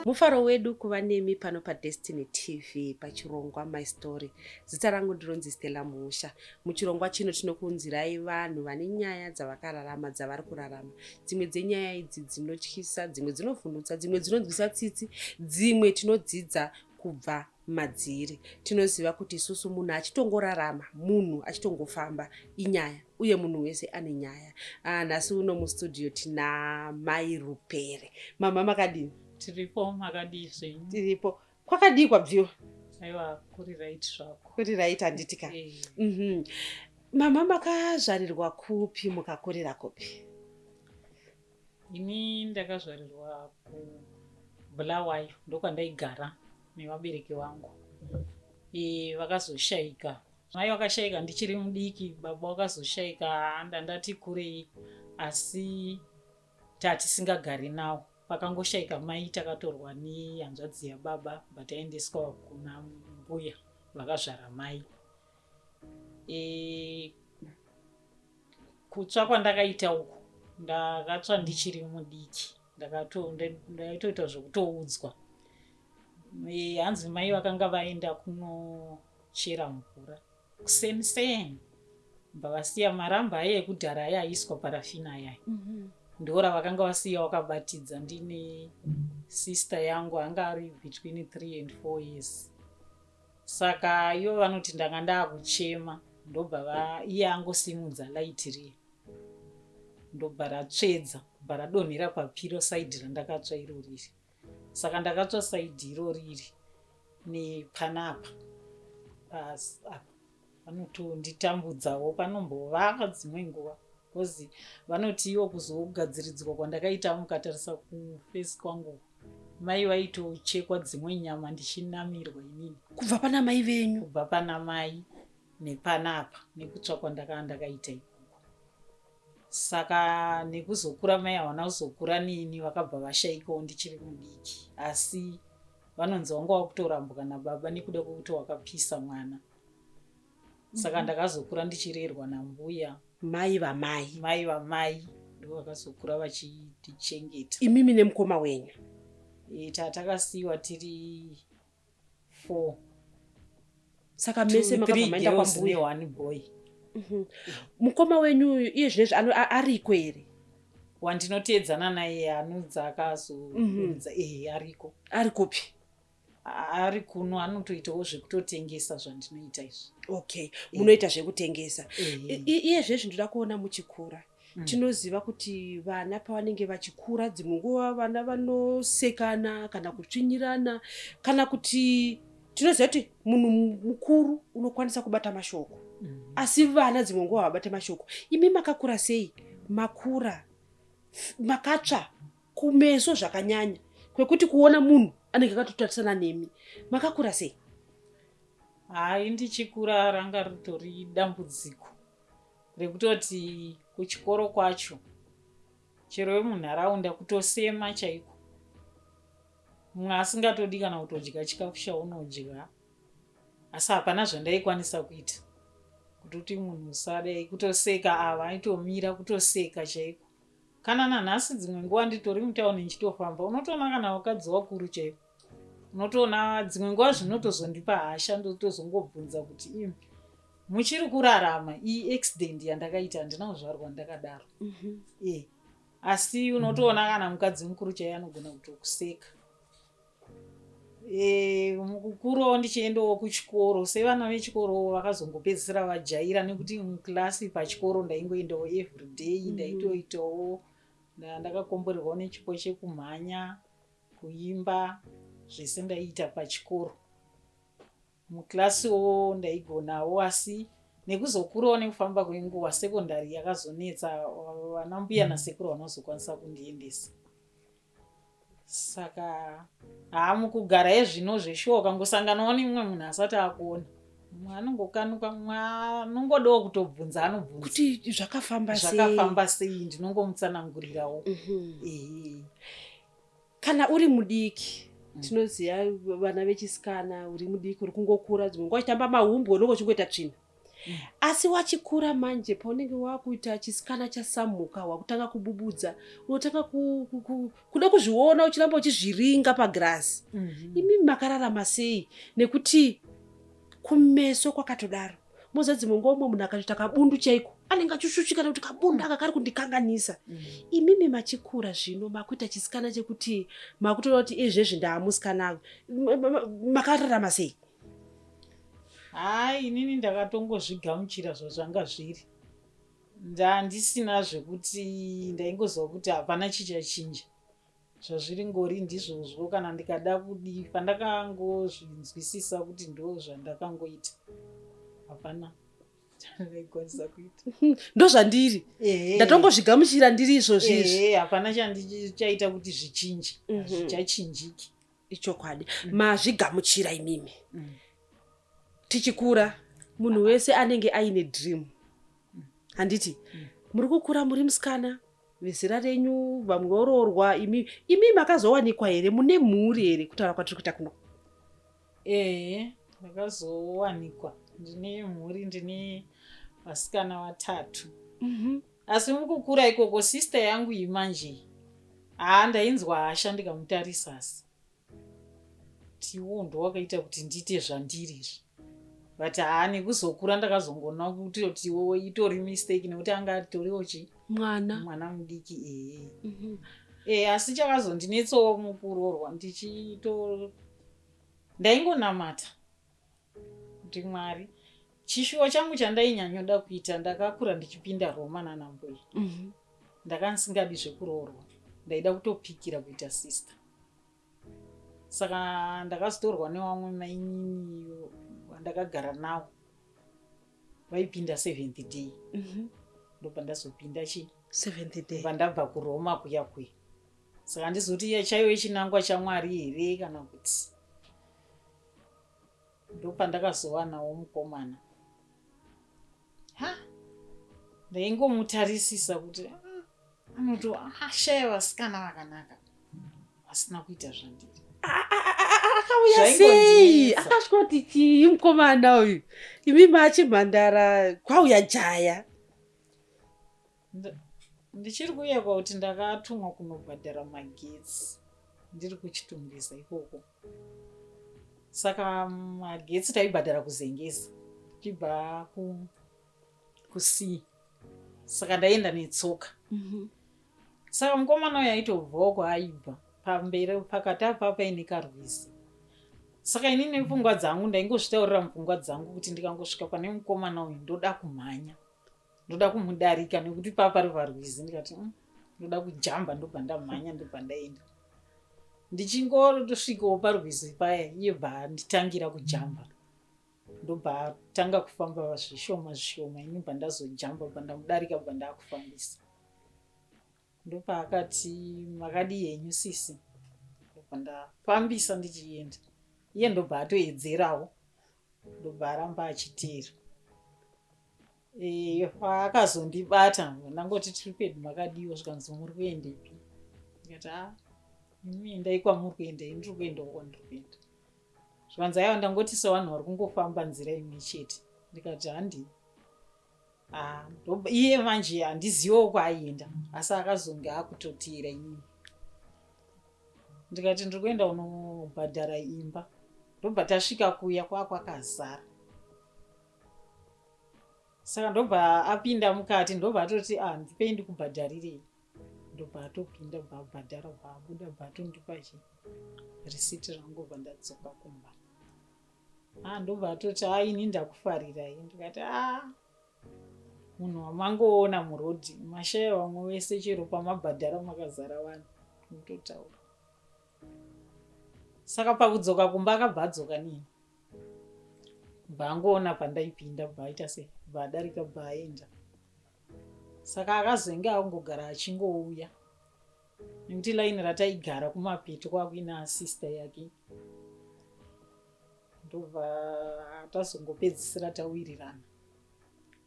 mufaro wedu kuva nemi pano padestiny tv pachirongwa my story zita rangu ndironzi stella musha muchirongwa chino tinokuunzirai vanhu vane nyaya dzavakararama dzavari kurarama dzimwe dzenyaya idzi dzinotyisa dzimwe dzinovhundutsa dzimwe dzinonzwisa tsitsi dzimwe tinodzidza kubva madziri. Tinoziva kuti isusu munhu achitongorarama, munhu achitongofamba inyaya uye munhu wese ane nyaya. Ah, nhasi uno mustudio tina Mai Rupere. Mama makadini? Tiripo, makadii zvenyu? Tiripo. Kwakadii kwabviwa? Aiwa, kuri right zvako. Kuri right handiti ka? Eh. Mhm. Mama makazvarirwa kupi mukakurira kupi? Ini ndakazvarirwa kuBulawayo ndokwandaigara nevabereki vangu. E, vakazoshaika mai vakashaika ndichiri mudiki, baba vakazoshaika ndandati kurei, asi tatisingagari nawo pakangoshaika mai takatorwa nehanzvadzi yababa but aendeswa kuna mbuya vakazvara mai e, kutsva kwandakaita uku ndakatsva ndichiri mudiki ndaitoita zvekutoudzwa e, hanzi mai vakanga vaenda kunochera mvura kuseni seni bva vasiya maramba aye ekudhara aye aiswa parafina ayaya mm -hmm. ndora vakanga vasiya wakabatidza ndine sister yangu anga ari between three and four years Saka ivo vanoti ndanga ndakuchema ndobva va iye angosimudza light riya ndobva ratsvedza kubva radonhera papiro side randakatsva iro riri saka ndakatsva side iro riri nepanapa pas apa Vanotonditambudzawo panombovava dzimwe nguva because vanoti ivo kuzogadziridzwa kwandakaita mukatarisa kufesi kwangu mai vaitochekwa dzimwe nyama ndichinamirwa inini kubva pana mai venyu kubva pana mai nepanapa nekutsvakwa ndakava ndakaita ikoko saka nekuzokura mai hawana kuzokura neni vakabva vashaikawo ndichiri mudiki asi vanonzi wanga wakutorambwa nababa nekuda kwekuti wakapisa mwana saka mhm. ndakazokura ndichirerwa nambuya mai vamai mai vamai ndo vakazokura vachitichengeta imimi nemukoma wenyu e, tatakasiyiwa tiri four saka mese makabva maenda kwambuya one boy mhm. mukoma wenyu uyu iye zvinezvi ariko here wandinoteedzana naye anudza akazoudza mhm. ehe ariko ari kupi ari kuno anotoitawo zvekutotengesa zvandinoita izvi okay munoita zvekutengesa iye zvezvi ndoda kuona muchikura mm. Mm. tinoziva kuti vana pavanenge vachikura dzimwe nguva vana vanosekana kana kutsvinyirana kana kuti tinoziva kuti munhu mukuru unokwanisa kubata mashoko mm. asi vana dzimwe nguva havabate mashoko imi makakura sei makura makatsva kumeso zvakanyanya kwekuti kuona munhu anenge akatotarisana nemi makakura sei hai ndichikura ranga ritori dambudziko rekutoti kuchikoro kwacho chero vemunharaunda kutosema chaiko mumwe asingatodi kana kutodya chikafu chaunodya asi hapana zvandaikwanisa kuita kutoti munhu usadai kutoseka ava aitomira kutoseka chaiko kana nanhasi dzimwe nguva nditori mutauni ndichitofamba unotoona kana vakadzi vakuru chaiko unotoona dzimwe nguva zvinotozondipa hasha ndotozongobvunza kuti im muchiri kurarama iyi accident yandakaita handina kuzvarwa ndakadaro mhm. e asi unotoona kana mukadzi mukuru chaiye anogona kutokuseka e, mukukurawo ndichiendawo kuchikoro sevana vechikoro vakazongopedzisira vajaira nekuti muklasi pachikoro ndaingoendawo everyday mhm. ndaitoitawo ndakakomborerwawo nechipo chekumhanya Kuimba zvese ndaiita pachikoro. Muclass wo ndaigonawo asi nekuzokurawo nekufamba kwenguva secondary yakazonetsa vana mbuya nasekuru havana kuzokwanisa kundiendesa. Saka haa mukugara ezvino zveshuwa ukangosanganawo nemumwe munhu asati akuona mumwe anongokanuka mumwe anongodawo kutobvunza anobvunza kuti zvakafamba sei zvakafamba sei ndinongomutsanangurirawo. Mhm. Ehe. kana uri mudiki Mm. tinoziva vana vechisikana uri mudiki uri kungokura dzimwe nguva uchitamba mahumbwe unenge uchingoita tsvina mm. asi wachikura manje paunenge wakuita chisikana chasamhuka wakutanga kububudza unotanga kuda kuzviona uchiramba uchizviringa pagirazi mm-hmm. imi makararama sei nekuti kumeso kwakatodaro moza dzimwe nguva umwe munhu akatoita kabundu chaiko anenge achishushika nekuti kabundu aka kari kundikanganisa mm. imimi machikura zvino makuita chisikana chekuti makutoona kuti izvezvi ndaamusikana avo makararama sei hai inini ndakatongozvigamuchira zvazvanga zviri ndandisina zvekuti ndaingoziva kuti hapana chichachinja Zvazviringori ndizvozvo kana ndikada kudii pandakangozvinzwisisa kuti ndo zvandakangoita hapana ndaikwanisa kuita ndozvandiri ndatongozvigamuchira ndiri izvozvi izvi hapana chandichaita kuti zvichinje mhm. zvichachinjiki ichokwadi mm. mazvigamuchira imimi mm. tichikura munhu wese anenge aine dream handiti mm. muri kukura muri musikana vezera renyu vamwe voroorwa imi imi makazowanikwa here mune mhuri here kutaura kwatiri kuita kuno ehe ndakazowanikwa ndine mhuri ndine vasikana vatatu mhm. asi mukukura ikoko sister yangu iyi manje haa ndainzwa hasha ndikamutarisa asi tiwo ndowakaita kuti ndiite zvandiri izvi but haa nekuzokura ndakazongoona kuti tiwo itori mistake nekuti anga atoriwo chi mwana mwana mudiki ee mm -hmm. e, asi chakazondinetsawo mukurorwa ndichito ndaingonamata ndimwari chishuwo changu chandainyanyoda kuita ndakakura ndichipinda roma nana mbuya mm -hmm. ndakansingadi zvekuroorwa ndaida kutopikira kuita sister saka ndakazotorwa newamwe maininiyo vandakagara nawo vaipinda seventh day mm -hmm. ndobva ndazopinda chi seventh day vandabva kuroma kuya kuya saka ndizoti chaive chinangwa chamwari here kana kuti ndopandakazowanawo mukomana ha ndaingomutarisisa kuti ah, anoti ashaya ah, vasikana vakanaka vasina kuita zvandiri akauya sei akasvika kuti chii mukomana uyu imi machimhandara kwauya jaya ndichiri kuyekwa kuti ndakatumwa kunobhadhara magetsi ndiri kuchitungwiza ikoko saka magetsi taibhadhara kuzengesa tichibva kusii saka ndaienda netsoka mhm. saka mukomana uyo aitobvawo kwaaibva pamberi pakati apa paine karwizi saka ini nepfungwa dzangu ndaingozvitaurira mupfungwa dzangu kuti ndikangosvika pane mukomana uyu ndoda kumhanya ndoda kumudarika nekuti paa pari parwizi ndikati mm, ndoda kujamba ndobva ndamhanya ndobva ndaenda ndichingotosvikawo parwizi paya iye bva nditangira kujamba ndobva tanga kufamba zvishoma zvishoma ini bva ndazojamba bva ndamudarika bva ndakufambisa ndopaakati makadii henyu sisi ndobva ndafambisa ndichienda iye ndobva atoedzerawo ndobva aramba achiteera Eh, paakazondibata ndangoti tiri pedu makadiwa zvikanzi muri kuendepi ndikati a ah, imi endai kwamuri kuenda ini ndiri kuenda uko ndiri kuenda zvikanzi aiwa ndangoti sevanhu vari kungofamba nzira imwe chete ndikati handii ah, iye manje handizivo kwaaienda asi akazonge akutoteera inini ndikati ndiri kuenda unobhadhara imba ndobva tasvika kuya kwakwakazara saka ndobva apinda mukati ndobva atoti ah ndipei ndikubhadharirei ndobva atopinda bva abhadhara bva abuda bva atondipa chi risiti rangu bva ndadzoka kumba a ah, ndobva atoti a ah, ini ndakufarirai ndikati a ah, munhu wamangoona murodhi mashaya vamwe wese chero pamabhadhara makazara vanhu mutotaura saka pakudzoka kumba akabva adzoka nini bva angoona pandaipinda bva aita sei bva adarika bva aenda saka akazenge akungogara achingouya nekuti laini rataigara kumapeto kwakuina asista yake ndobva tazongopedzisira tawirirana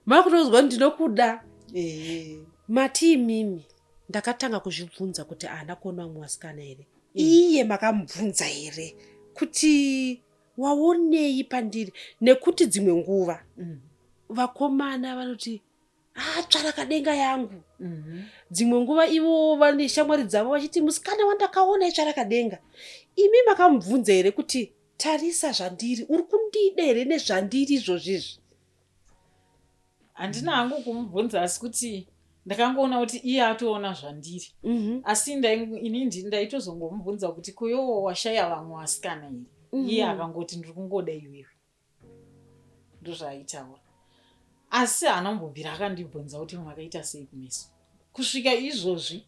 makunonzwa kuti ndinokuda eh. matii mimi ndakatanga kuzvibvunza kuti haana kuona vamwe vasikana here eh. iye makamubvunza here kuti waonei pandiri nekuti dzimwe nguva mm. vakomana vanoti atsvara ah, kadenga yangu mhm. dzimwe nguva ivo vane shamwari dzavo vachiti musikana wandakaona itsvara kadenga imi makamubvunza here kuti Tarisa zvandiri, uri kundida here nezvandiri izvozvi izvi? Handina hangu kumubvunza asi kuti ndakangoona kuti iye atoona zvandiri mm -hmm. asi ini ndaitozongomubvunza kuti kuyowo washaya vamwe vasikana here mm -hmm. iye akangoti ndiri kungoda iwewe ndozvaaitaura asi haana kumbobvira akandibvunza kuti makaita sei kumeso kusvika izvozvi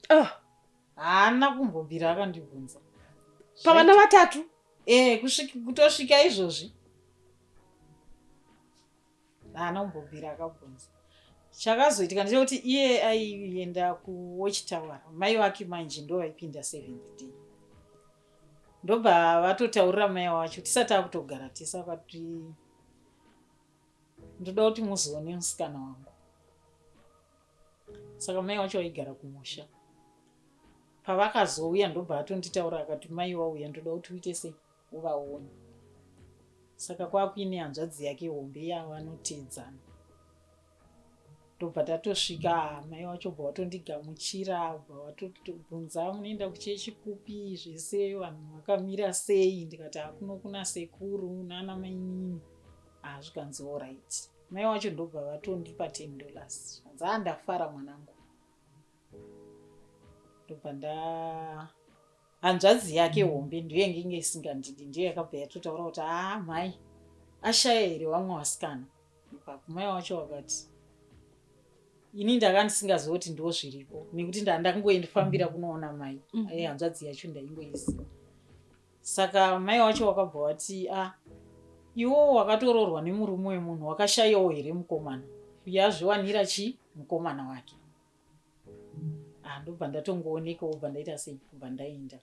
ah. haana kumbobvira akandibvunza pavana vatatu e, kutosvika izvozvi haana kumbobvira akabvunza chakazoitika ndechekuti iye aienda kuwatchtower mai vake manje ndo vaipinda seventh day ndobva vatotaurira mai wacho tisati akutogara tese akati ndoda kuti muzoone musikana wangu saka mai wacho vaigara kumusha pavakazouya ndobva atonditaura akati mai wauya ndoda kuti uite sei uvaone saka kwakuine hanzvadzi yake hombe yavo anoteedzana ndobva tatosvika mai wacho bva watondigamuchira bva watobvunza munoenda kuchechi kupi zvese vanhu vakamira sei ndikati hakuno kuna sekuru nana mainini hazvikanzi ah, olright ah, Mai wacho ndobva vatondipa 10 dollars zvanzi haa ndafara mwanangu ndobva nda hanzvadzi yake hombe ndiyo yange inge isingandidi ndiyo yakabva yatotaura kuti haa mhai ashaya here wamwe wasikana ipapo mai wacho wakati ini ndaka ndisingaziva kuti ndiwo zviripo nekuti ndaa ndakangoendifambira kunoona mai mm. hanzvadzi yacho ndaingoiziva Saka mai wacho wakabva wati a ah, iwowo wakatoroorwa nemurume wemunhu wakashayawo here mukomana uye azviwanira chii mukomana wake ah, ndobva ndatongooneka wobva ndaita sei kubva ndaenda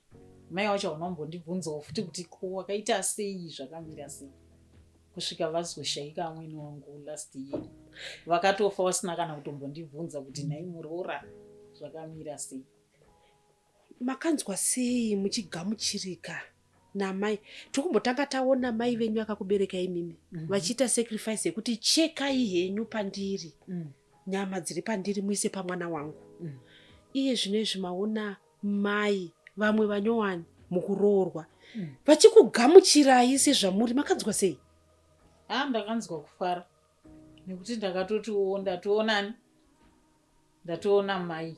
mai wacho hauna kumbondibvunzawo futi kuti ko wakaita sei zvakamira sei kusvika vazoshaika amwene wangu last year vakatofa vasina kana kutombondibvunza kuti nhai muroora zvakamira sei Makanzwa sei muchigamuchirika namai tikumbotanga taona mai venyu akakubereka imimi mm -hmm. vachiita sacrifice yekuti chekai henyu pandiri mm. nyama dziri pandiri muise pamwana wangu mm. iye zvino izvi maona mai vamwe vanyowani mukuroorwa mm. vachikugamuchirai sezvamuri makanzwa sei a ah, ndakanzwa kufara nekuti ndakatotiwo ndatoonani ndatoona mai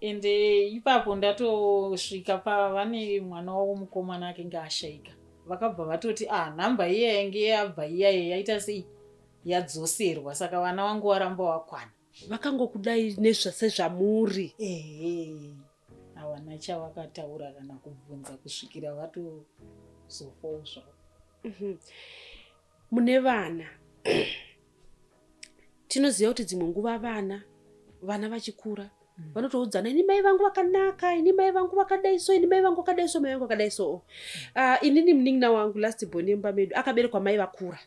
ende ipapo ndatosvika pavane mwana wavo mukomana akenge ashaika vakabva vatoti ah nhamba iya yange yabva iya yaita sei yadzoserwa saka vana vangu varamba wakwana vakangokudai nesezvamuri ehe havana chavakataura kana kubvunza kusvikira vatozofawo zvavo mhm. mune vana tinoziva kuti dzimwe nguva vana vana vachikura mm. vanotoudzana ini mai vangu vakanaka ini mai vangu vakadai so ini mai vangu vakadai so mai vangu vakadai so uh, inini munin'ina wangu last born yemumba medu akaberekwa mai vakura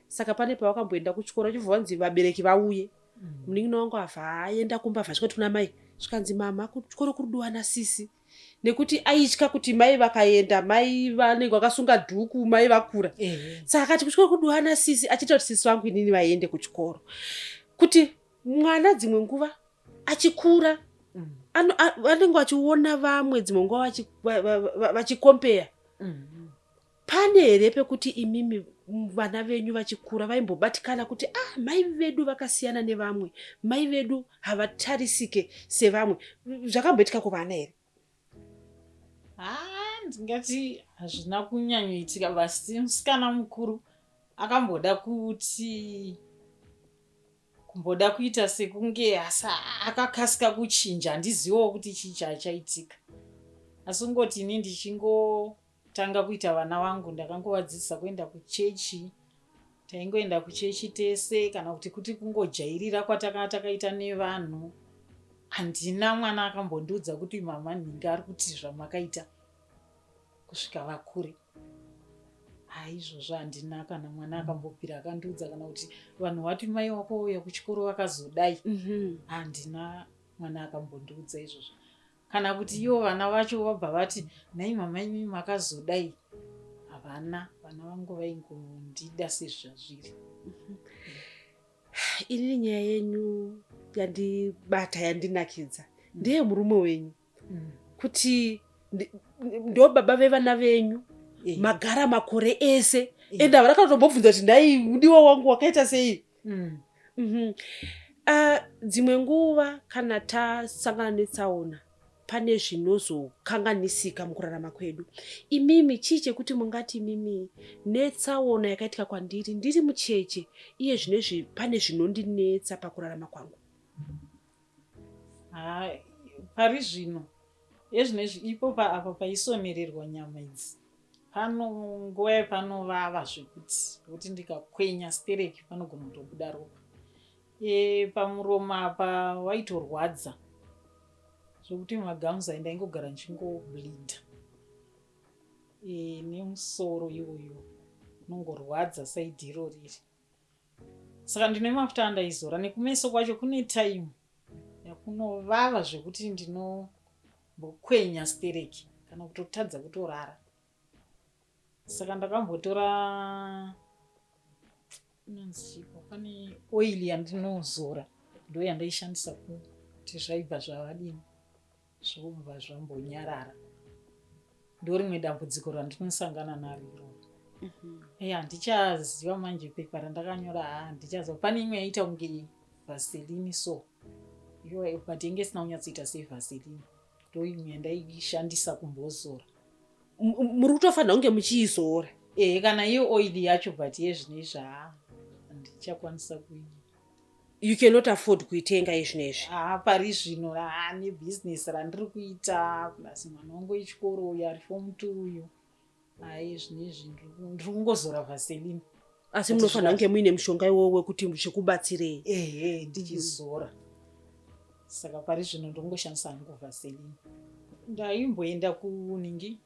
saka pane pavakamboenda kuchikoro chibva vanzi vabereki vauye mm. munin'ina wangu avha aenda kumba vhasvika tuna mai zvikanzi mama kuchikoro kuri duwana sisi nekuti aitya kuti mai vakaenda mai vanenge vakasunga dhuku mai vakura saka akati kutyora kudiwa nasisi achiita kuti sisi vangu inini vaende kuchikoro kuti mwana dzimwe nguva achikura mm. vanenge vachiona vamwe dzimwe nguva vachikompeya mm. Pane here pekuti imimi vana venyu vachikura vaimbobatikana kuti ah mai vedu vakasiyana nevamwe mai vedu havatarisike sevamwe zvakamboitika kuvana here ah, ndingati hazvina kunyanyoitika vasi musikana mukuru akamboda kuti kumboda kuita sekunge asi akakasika kuchinja handizivawo kuti chii chaichaitika asi ungoti ini ndichingo Tanga kuita vana vangu ndakangovadzidzisa kuenda kuchechi taingoenda kuchechi tese kana kuti kuti kungojairira kwataka takaita nevanhu handina mwana akambondiudza kuti mama nhinga ari kuti zvamakaita kusvika vakure haizvozvo handina kana mwana akambopira akandiudza kana kuti vanhu vati mai wako vauya kuchikoro vakazodai mhm. handina mwana akambondiudza izvozvo Kana kuti ivo vana vacho vabva vati nhai mama imi makazodai. Havana, vana vangu vaingondida sezvazviri. Inini nyaya yenyu yandibata yandinakidza ndeye murume wenyu mm. kuti ndo baba vevana venyu eh. magara makore ese eh. ende havana kana tombobvunza kuti nhai mudiwa wangu wakaita sei Mm. Mm -hmm. Uh, dzimwe nguva kana tasangana netsaona pane zvinozokanganisika mukurarama kwedu imimi chii chekuti mungati imimi netsaona yakaitika kwandiri ndiri mucheche iye zvinezvi pane zvinondinetsa pakurarama kwangu Haa pari zvino ezvino izvi ipopa apa paisonererwa nyama idzi pano nguva yepanovava zvekuti kuti ndikakwenya stereki panogona kutobuda ropa e, pamuromo apa waitorwadza zvekuti magamus ayi ndaingogara ndichingobleeda e, nemusoro iwoyo unongorwadza saidi iro riri Saka ndine mafuta andaizora nekumeso kwacho kune time yakunovava zvekuti ndinombokwenya stereki kana kutotadza kutorara. Saka ndakambotora inonzi chipo pane oil yandinozora ndoyandaishandisa kuti zvaibva zvavadini. zvobva zvambonyarara ndorimwe dambudziko randinosangana naro iroo mhm. eya handichaziva manje pepa randakanyora ha handichaziva pane imwe yaita kunge vaselini so iyo but yenge isina kunyatsoita sevaselini ndoimwe yandaishandisa kumbozora muri kutofanira kunge muchiizora ehe kana iyo oili yacho but yezvine izvaa handichakwanisa kuii you cannot afford kuitenga izvino izvi haa pari zvino haa nebusiness randiri kuita plus mwana wangu wechikoro uyu ari fom t uyu hayi zvino izvi ndiri kungozora vaselina asi munofanira kunge muine mushonga iwowo wekuti zvikubatsirei ehe ndichizora saka pari zvino ndongoshandisa hangu vaselina ndaimboenda kuningi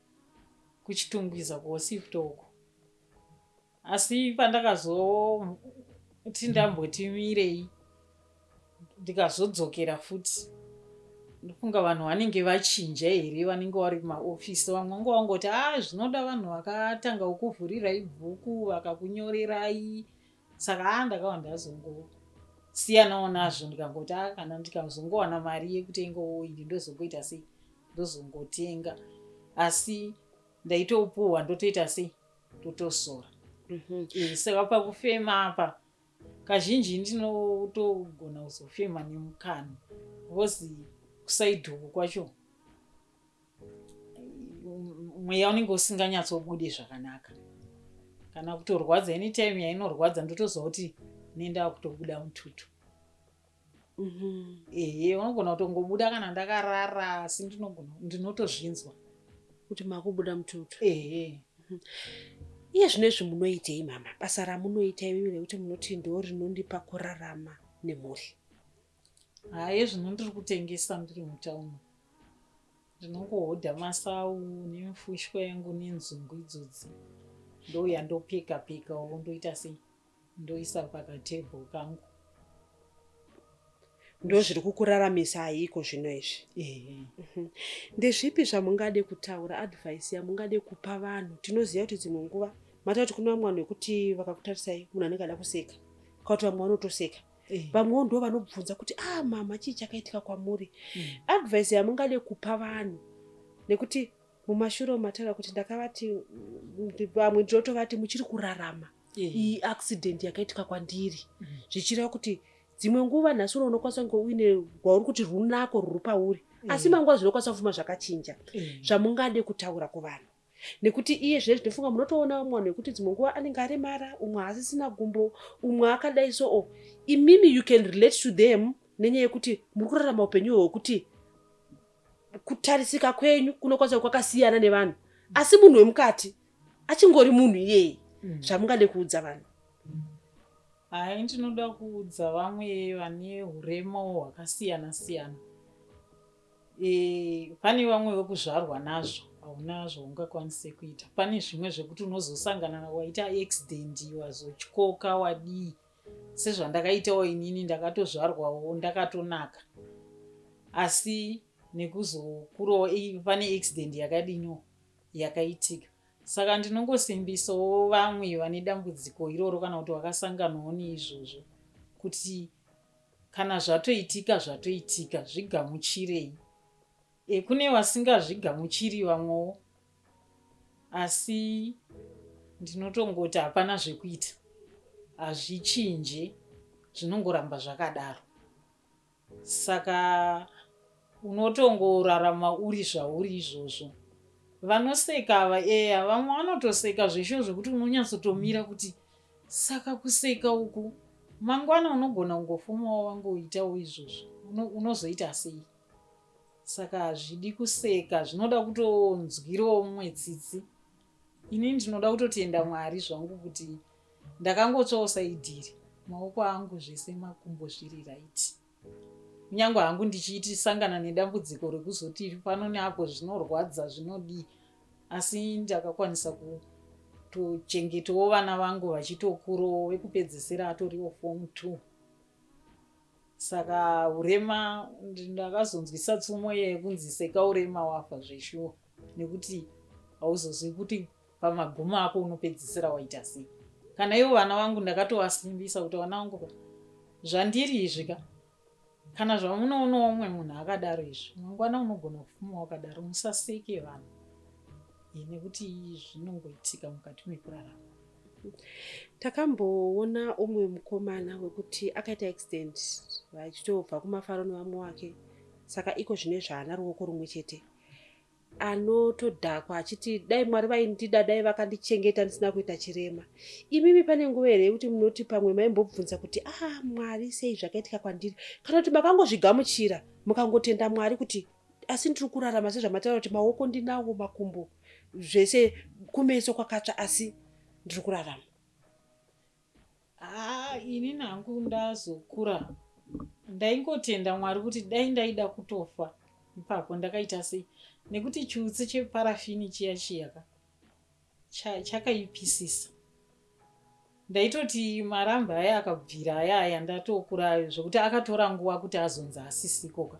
kuchitungwiza kuosipto uko Asi pandakazoti ndamboti mirei ndikazodzokera futi ndofunga vanhu vanenge vachinja here vanenge vari kumaofisi vamwe vanga vangoti a ah, zvinoda vanhu vakatanga kukuvhurirai bhuku vakakunyorerai saka a ah, ndakava ndazongosiyanawo nazvo ndikangoti a ah, kana ndikazongowana mari yekutenga oiri ndozongoita sei ndozongotenga asi ndaitopuhwa ndotoita sei totosora mhm. eh, saka pakufema apa kazhinji ndinotogona kuzofema nemukanwa bcause kusaidhoko kwacho mweya unenge usinganyatsobude zvakanaka kana kutorwadza anytime yainorwadza ndotoziva kuti nendava kutobuda mututu Mhm. ehe unogona kutongobuda kana ndakarara asi ndinogona ndinotozvinzwa kuti makubuda mututu ehe iye zvino izvi munoitei mama basa ramunoita imi rekuti munoti ndo rinondipa kurarama nemhuri haye zvino ndiri kutengesa ndiri mutauni ndinongohodha masawu nemfushwa yangu nenzungu idzodzi ndouya ndopika pika wo ndoita sei ndoisa pakatable kangu ndozviri kukuraramisa ayiko zvino izvi mhm. ndezvipi zvamungade kutaura advice yamungade kupa vanhu tinoziva kuti dzimwe nguva mata kuti kune vamwe vanhu vekuti vakakutarisai munhu anenge ada kuseka kauti vamwe vanotoseka vamwewo ndo vanobvunza kuti a ah, mama chii chakaitika kwamuri mm. advice yamungade kupa vanhu nekuti mumashure matara kuti ndakavati vamwe ndinotovati muchiri kurarama iyi accident yakaitika kwandiri mm. zvichireva kuti dzimwe nguva nhasi uno unokwanisa kunge uine rwauri kuti runako rwuri pauri mm. asi manguva zvinokwanisa kufuma zvakachinja mm. zvamungade kutaura kuvanhu nekuti iye zve zvinofunga munotoona umwe vanhu vekuti dzimwe nguva anenge aremara umwe haasisina gumbo umwe akadai so o oh, imimi you can relate to them nenyaya yekuti muri kurarama upenyu hwekuti kutarisika kwenyu kunokwanisa kwakasiyana nevanhu asi munhu wemukati achingori munhu iyeye mm. zvamungade kuudza vanhu hai ndinoda kuudza vamwe vane urema hwakasiyana siyana e, pane vamwe vekuzvarwa nazvo hauna zvaungakwanise kuita pane zvimwe zvekuti unozosangana waita accident wazotyoka wadii sezvandakaitawo inini ndakatozvarwawo ndakatonaka asi nekuzokurawo pane accident yakadino yakaitika. Saka ndinongosimbisawo vamwe vane dambudziko iroro kana kuti vakasanganawo neizvozvo kuti kana zvatoitika zvatoitika zvigamuchirei. E, kune vasingazvigamuchiri vamwewo asi ndinotongoti hapana zvekuita hazvichinje zvinongoramba zvakadaro Saka unotongorarama uri zvauri izvozvo. Vanoseka ava eya vamwe vanotoseka zveshuwa zvekuti unonyatsotomira kuti saka kuseka uku mangwana unogona kungofumawo wangoitawo izvozvo unozoita sei saka hazvidi kuseka zvinoda kutonzwirawo mumwe tsitsi ini ndinoda kutotenda mwari zvangu kuti ndakangotsvawo saidhiri maoko angu zvese makumbo zviri right kunyange hangu ndichiiti sangana nedambudziko rekuzoti pano neapo zvinorwadza zvinodii asi ndakakwanisa kutochengetawo vana vangu vachitokurawo wekupedzesera atoriwo form two saka urema ndakazonzwisa tsumo yekunzi seka urema wafa zveshuwa nekuti hauzozivi kuti pamagumo ako unopedzisira waita sei kana ivo vana vangu ndakatovasimbisa kuti vana vangu zvandiri izvi ka kana zvamunoonawo umwe munhu akadaro izvi mangwana unogona kufuma wakadaro musaseke vanhu nekuti zvinongoitika mukati mekurarama takamboona umwe mukomana wekuti akaita accident vachitobva kumafaro nevamwe wake saka iko zvine zvaana ruoko rumwe chete anotodhakwa achiti dai mwari vaindida dai vakandichengeta ndisina kuita chirema imimi pane nguva here yekuti munoti pamwe maimbobvunza kuti a ah, mwari sei zvakaitika kwandiri kana kuti makangozvigamuchira mukangotenda mwari kuti asi ndiri kurarama sezvamataura kuti maoko ndinawo makumbo zvese kumeso kwakatsva asi ndiri kurarama Haa inini hangu ndazokura ndaingotenda Mwari kuti dai ndaida kutofa ipapo ndakaita sei nekuti chiutsi cheparafini chiya chiyaka chakaipisisa ndaitoti marambe aya akabvira aya aya ndatokura zvekuti akatora nguva kuti azonzi asisikoka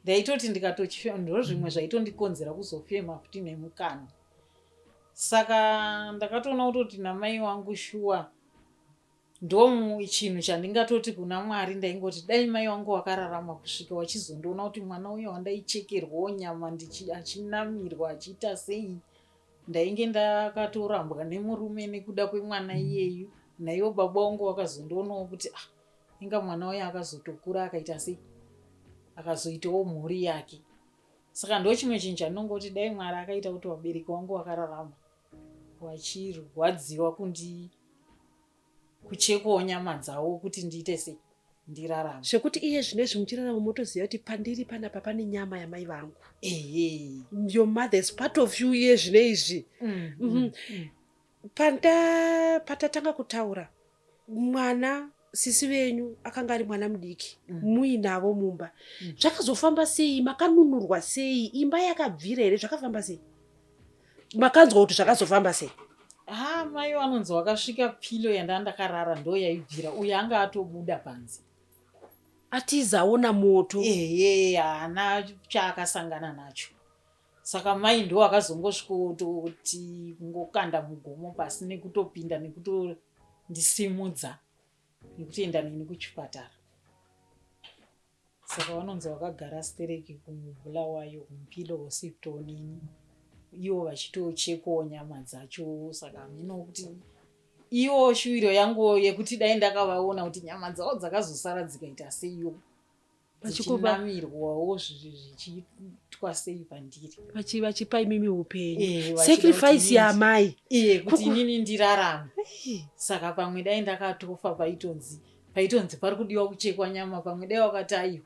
ndaitoti ndikatochifema ndozvimwe zvaitondikonzera kuzofema futi nemukanwa saka ndakatoona kutoti namai wangu shuwa ndochinhu chandingatoti kuna mwari ndaingoti dai mai wangu wakararama kusvika wachizondiona kuti mwana uyo wandaichekerwawo nyama achinamirwa achiita sei ndainge ndakatorambwa nemurume nekuda kwemwana iyeyu naivo baba wangu vakazondionawo kuti ah inga mwana uyo akazotokura akaita sei akazoitawo mhuri yake Saka ndochimwe chinhu chandinongoti dai Mwari akaita kuti vabereki wangu wakararama vachirwadziwa kundi kuchekwawo nyama dzavo kuti ndiite sei ndirarama zvekuti iye zvino izvi muchirarama motoziva kuti pandiri panapa pane nyama yamai vangu ehe your mother is part of you iye zvino izvi mm, mm, mm. patatanga kutaura mwana sisi venyu akanga ari mwana mudiki mm. muinavo mumba mm. zvakazofamba sei makanunurwa sei imba yakabvira here zvakafamba sei makanzwa kuti zvakazofamba sei ha mai vanonzi wakasvika pilo yanda ndakarara ndo yaibvira uye anga atobuda panze atizaona moto ehe haana chaakasangana nacho Saka mai ndiwo akazongosvikoti kungokanda mugomo pasi nekutopinda nekutondisimudza nekutoenda neni kuchipatara saka vanonzi vakagara stereki kumubulawayo kumupilo wose kutonini ivo vachitochekwawo nyama dzacho saka hameno kuti ivo shuviro yangu yekuti dai ndakavaona kuti nyama dzavo dzakazosara dzikaita seiyo vachinamirwawo zvichiitwa sei pandiri vachipa imimi upenyu sacrifice yamai kuti inini ndirarame saka pamwe dai ndakatofa paitonzi paitonzi pari kudiwa kuchekwa nyama pamwe dai wakati aiwa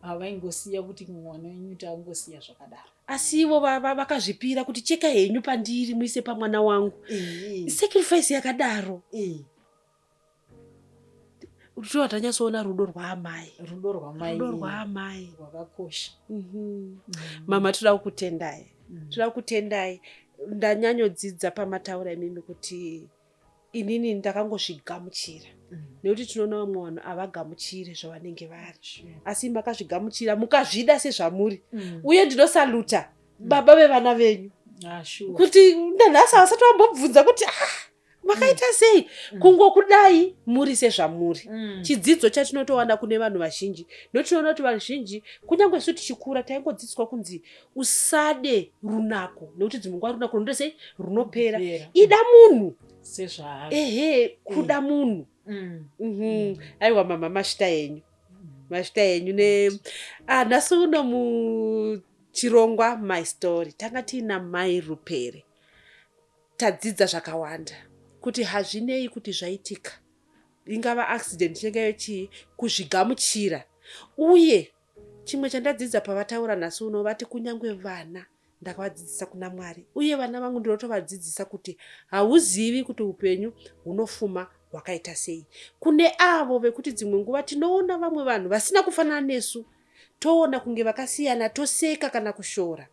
havaingosiya kuti mwana wenyu taangosiya zvakadaro asi ivo vakazvipira kuti cheka henyu pandiri muise pamwana wangu sacrifice yakadaro Shuwa tanyatsoona rudo rwaamai. Rudo rwamai. Rudo rwaamai. Rwakakosha. Mhm. Mama toda kukutendai. Mm. Toda kukutendai. Ndanyanyodzidza pamataura imimi kuti inini ndakangozvigamuchira mm. nekuti tinoona vamwe vanhu havagamuchire zvavanenge vari asi makazvigamuchira mukazvida sezvamuri mm. uye ndinosaluta baba vevana venyu ah, kuti nanhasi havasati vambobvunza kuti ah, makaita mm. sei mm. kungokudai muri sezvamuri mm. chidzidzo chatinotowana kune vanhu vazhinji ndotinoona kuti vazhinji kunyange su tichikura taingodzidziswa kunzi usade runako nekuti dzimwe nguva runako runoita sei runopera ida munhu ehe kuda eh. munhu mhm. aiwa mama mashita enyu mashita enyu ne ah, nhasi uno muchirongwa my story tanga tiina mai rupere Tadzidza zvakawanda kuti hazvinei kuti zvaitika, ingava accident inenge yave chii, kuzvigamuchira. Uye chimwe chandadzidza pavataura nhasi uno vati kunyange vana ndakavadzidzisa kuna Mwari uye vana vangu ndinotovadzidzisa kuti hauzivi kuti upenyu hunofuma hwakaita sei. Kune avo vekuti dzimwe nguva tinoona vamwe vanhu vasina kufanana nesu toona kunge vakasiyana toseka kana kushora.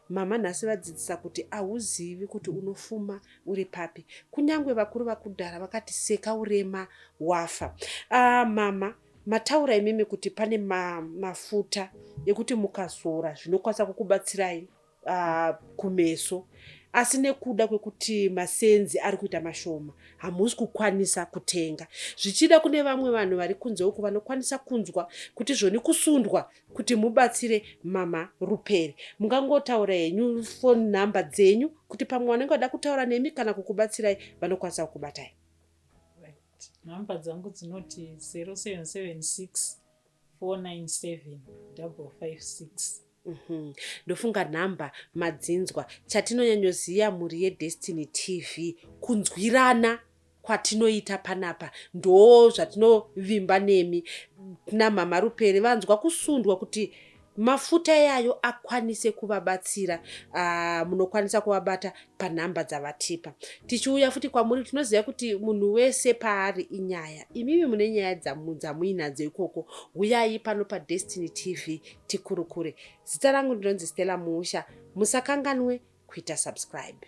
Mama nhasi vadzidzisa kuti ahuzivi kuti unofuma uri papi. Kunyangwe vakuru vakudhara vakati seka urema wafa. Ah mama mataura imimi kuti pane ma, mafuta ekuti mukazora zvinokwanisa kukubatsirai uh, kumeso asi nekuda kwekuti masenzi ari kuita mashoma hamusi kukwanisa kutenga zvichida kune vamwe vanhu vari kunze uku vanokwanisa kunzwa kuti zvoni kusundwa kuti mubatsire mama Ruperi. Mungangotaura henyu phone number dzenyu kuti pamwe wanenge wada kutaura nemi kana kukubatsirai vanokwanisa kukubatai. Number dzangu dzinoti 0776 497 556. Mhm. ndofunga nhamba madzinzwa chatinonyanyoziva mhuri yedestiny tv kunzwirana kwatinoita panapa ndoo zvatinovimba nemi kna mhamha Rupere vanzwa kusundwa kuti mafuta iyayo akwanise kuvabatsira uh, munokwanisa kuvabata panhamba dzavatipa tichiuya futi kwamuri tinoziva kuti munhu wese paari inyaya imimi mune nyaya dzamuinadzo ikoko huyai pano padestiny tv tikurukure zita rangu ndinonzi stella muusha musakanganwe kuita subscribe